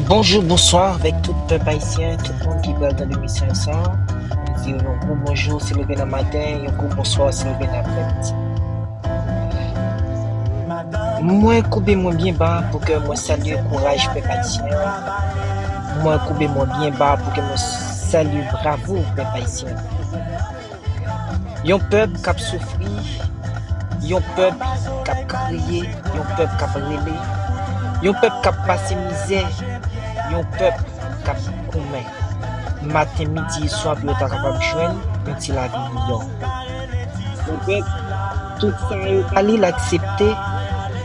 Bonjou, bonswa avèk tout pèp ayisyen, tout moun ki pral tande mesaj sa a. Mwen di yo yon gwo bonjou si leve nan maten, yon gwo bonswa si leve nan aprèmidi. Mwen koube mwen byen ba pou ke mwen salye kouraj pèp ayisyen an. Mwen koube mwen byen ba pou ke mwen salye bravo pèp ayisyen an. Yon pèp k ap soufri, yon pèp k ap kriye, yon pèp k ap rele, yon pèp k ap pase mizè, yon pèp k ap goumen maten, midi, swa pou yo ta kapab jwenn yon ti lavi miyò. Yon pèp, tout sa yo ba li l aksepte,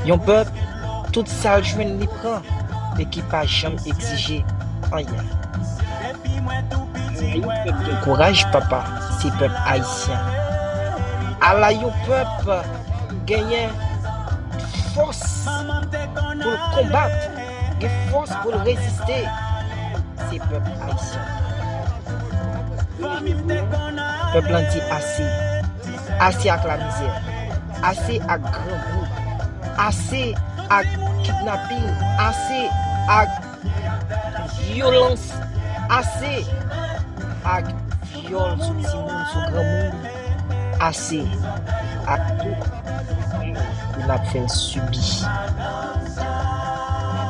yon pèp, tout sa l jwenn li pran, men ki pa janm egzije anyen. Ayy pèp gen kouraj papa se pèp ayisyen ala yon pèp genyen fòs poul konbat gen fòs poul reziste se pèp ayisyen pèp lan di ase ase ak lamizè ase ak grangou ase ak kidnaping ase ak Vyolans ase ak vyòl sou timoun, sou granmoun, ase ak tout abus ke nap fè subi.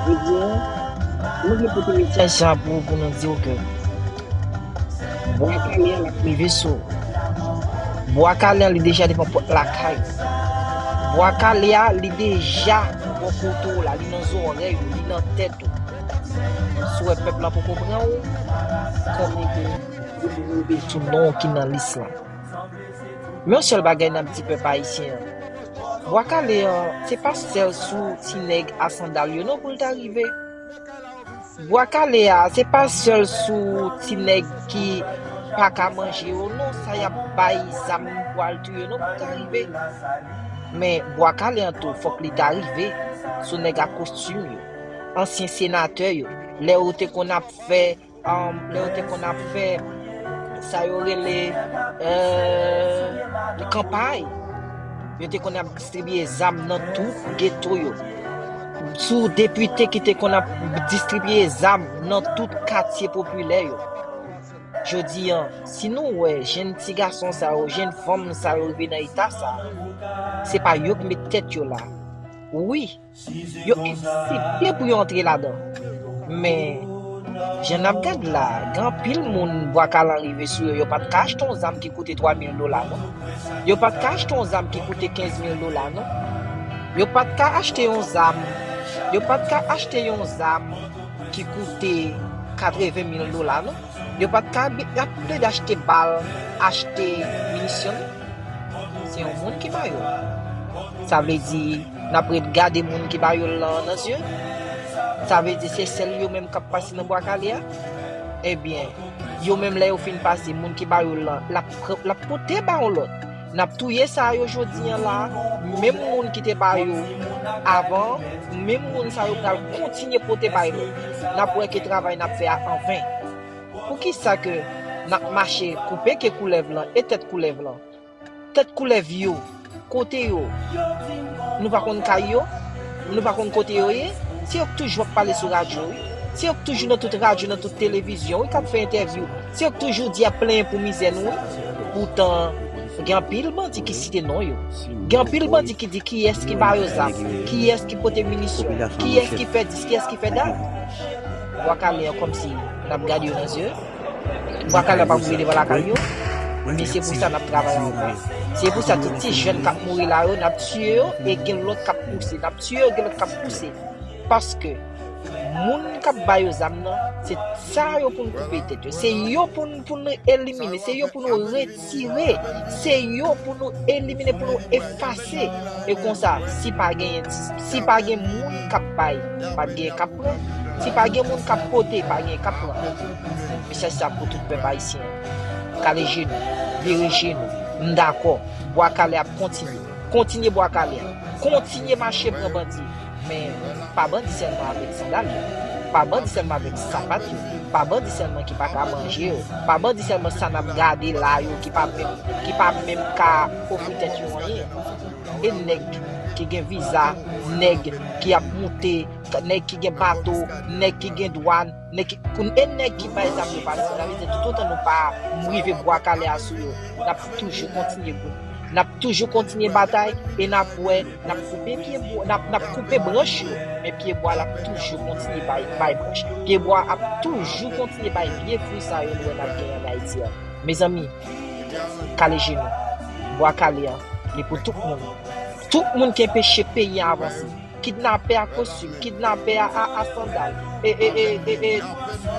Jodi a, nou vle pote mesaj sa pou nou, pou nou diw ke Bwa kale a lap rive sou ou. Bwa kale a li deja devan pot lakay ou. Bwa kale a li deja bò kote ou la, li nan zòrèy ou, li nan tèt ou. Sou wè pèp la poko pran ou, konnen ke yo rive sou non ki nan lis la. Men yon sèl bagay nap di pèp ayisyen an. Bwa kale an, se pa sèl sou ti nèg a sandal yo non pou l ta rive. Bwa kale a se pa sèl sou ti nèg ki paka manje yo non sa yap bay zam pou al touye non pou ta rive men bwa kale an tou fòk li ta rive sou nèg a kostim yo ansyen senatè yo lè yo te konn ap fè Lè yo te konn ap fè sa yo rele kanpay, yo te konn ap distribiye zam nan tout geto yo. Sou depite ki te konn ap distribiye zam nan tout katye popilè yo. Jodi an, si nou wè jenn ti gason sa yo, jenn fanm sa yo rive nan eta sa, se pa yo ki met tèt yo la. Wi! Yo eksepte pou yo antre ladan. Men, jan n ap gad la, gen anpil moun bwa kalan rive sou yo, yo pa t ka achte yon zam ki koute 3 mil dola non. Yo pa t ka achte yon zam ki koute 15 mil dola non. Yo pa t ka achte yon zam, yo pa t ka achte yon zam ki koute 80 mil dola non. Yo pa t ka y ap plede achte bal, achte minisyon non. Se yon moun ki ba yo. Sa vle di. Nap ret gade moun ki ba yol lan nan zye? Sa vle di se sèl yo menm kap pase nan bwa kale a? Ebyen, yo menm lè yo fin pase, moun ki ba yol lan, lap pran, lap pote ba yon lòt. Nap touye sa a yo jodi an la a, menm moun ki te ba yo avan an, menm moun sa yo pral kontinye pote bay lòt. Nap wè ke travay nap fè a an ven. Poukisa ke nap mache koupe ke koulèv lan e tèt koulèv lan? Tèt koulèv yo, kote yo? Nou pa konn kay yo? Nou pa konn kote yo ye? Se yo k toujou ap pale sou radyo wi. Se yo k toujou nan tout radyo, nan tout televizyon wi k ap fè entèvyou. Se yo k toujou di ap plenyen pou mizè nou wi. Poutan, gen anpil bandi ki site non yo. Gen anpil bandi ki di kiyès ki ba yo zam, kiyès ki pote minisyon, kiyès ki fè dis, kiyès ki fè dat. Bwa kale an kòmsi n ap gade yo nan zye. Wakanda pa pou vin devan lakay yo, men se pou sa nap travay anvan. Se pou sa tout ti jèn kap mouri la yo nap tiye yo e gen lòt kap pouse, nap tiye yo gen lòt kap pouse. Paske moun kap ba yo zam nan se sa yo poun koupe tèt yo, se yo poun elimine, se yo pou nou. tire se yo pou nou elimine pou nou efase e konsa si pa gen si pa gen moun kap bay pap gen kap pran si pa gen moun kap pote pa gen kap pran mesaj sa pou tout pèp ayisyen kale je nou vire je nou m dakò bwa kale ap kontinye kontinye bwa kale kontinye mache pran bandi. Men, pa bandi sèlman avèk sandal yo, pa bandi sèlman avèk sapat yo, pa bandi sèlman ki pa ka manje yo, pa bandi sèlman sa n ap gade la a yo ki pa menm, ki pa menm ka ofri tèt yo anyen. E nèg ki gen viza, nèg ki ap moute, nèg ki gen bato, nèg ki gen dwàn, Nèg ki pou e nèg ki bay zam yo pa di la vérité tout otan nou pa rive bwa kale a sou yo nap toujou kontinye gou nap toujou kontinye batay e nap wè nap koupe pye bwa nap nap koupe branch yo men pye bwa lap toujou kontinye bay bay branch pye bwa ap toujou kontinye bay vye fwi sa yo nou wè nap genyen an Ayiti a mezanmi kale je nou bwa kale an li pou tout moun tout moun ki enpeche peyi a avanse. Kidnapè a kostim, kidnapè a a sandal, e e e e e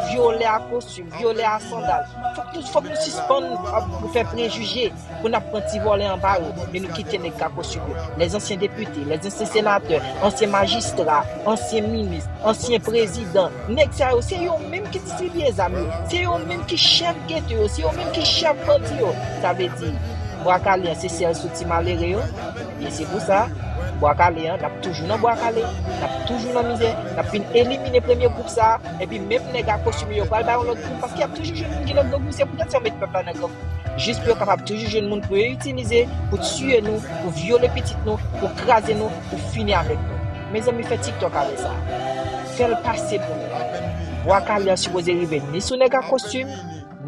vyolè a kostim, vyolè a sandal. Fòk nou fòk nou sispann ap fè prejije pou n ap pran ti vòlè anba yo e nou kite nèg ka kostim yo. Lè zansyen depite, lè zansyen senatè, ansyen majistra, ansyen minis, ansyen prezidan, nèg sa yo se yo menm ki distribiye zam yo, se yo menm ki chèf geto yo, se yo menm ki chèf bandi yo. Sa vle di, bwa kale an se sèl sou ti malere yo? E se pou sa, Bwa Kale an, n ap toujou nan Bwa Kale, n ap toujou nan mizè, n ap fin elimine premye gwoup sa a, epi menm nèg a kostime yo pral bay yon lòt gwoup, paske y ap toujou jwenn moun ki nan grangou, se poutèt sa yo met pèp la nan grangou, jis pou yo kapab toujou jwenn moun pou yo itilize, pou tiye nou, pou vyole pitit nou, pou kraze nou, pou fini avèk nou. Mezanmi fè tiktok avè sa. Fè l pase pou nou. Bwa Kale an sipoze rive ni sou nèg a kostim,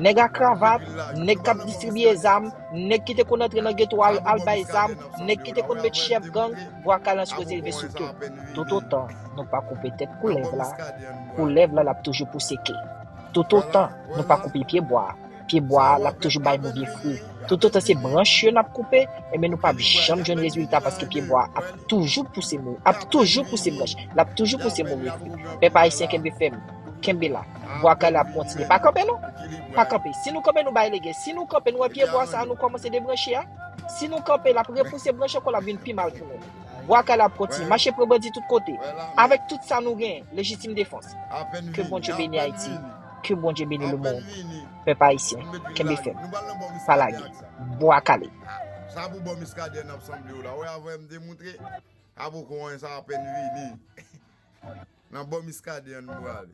nèg a kravat, nèg k ap distribiye zam, Nèg ki te konn antre nan geto a yo al bay zam, nèg ki te konn met chèf gang, bwa kalans koze rive sou tou. Toutotan nou pa koupe tèt koulèv la, koulèv la l ap toujou pouse ke. Toutotan nou pa koupe pye bwa a, pye bwa a l ap toujou bay move fri. Toutotan se branch yo n ap koupe, enben nou p ap janm jwenn rezilta paske pye bwa a ap toujou pouse branch, l ap toujou pouse move fri. Pèp Ayisyen kenbe fèm! Kenbe la. Bwa kale ap kontinye. Pa kanpe non. Pa kanpe. Si nou kanpe nou bay legen. Si nou kanpe nou wè pye bwa sa a nou kòmanse debranche a. Si nou kanpe l ap repouse branch ankò l ap vin pi mal pou nou. Bwa kale ap kontinye. Mache pran bandi tout kote. Avèk tout sa nou genyen. Lejitim defans. Ke Bondye beni Ayiti. Ke Bondye beni lemond. Pèp Ayisyen. Kenbe fèm. Pa lage. Bwa kale. Nan bò miskaden an n brale.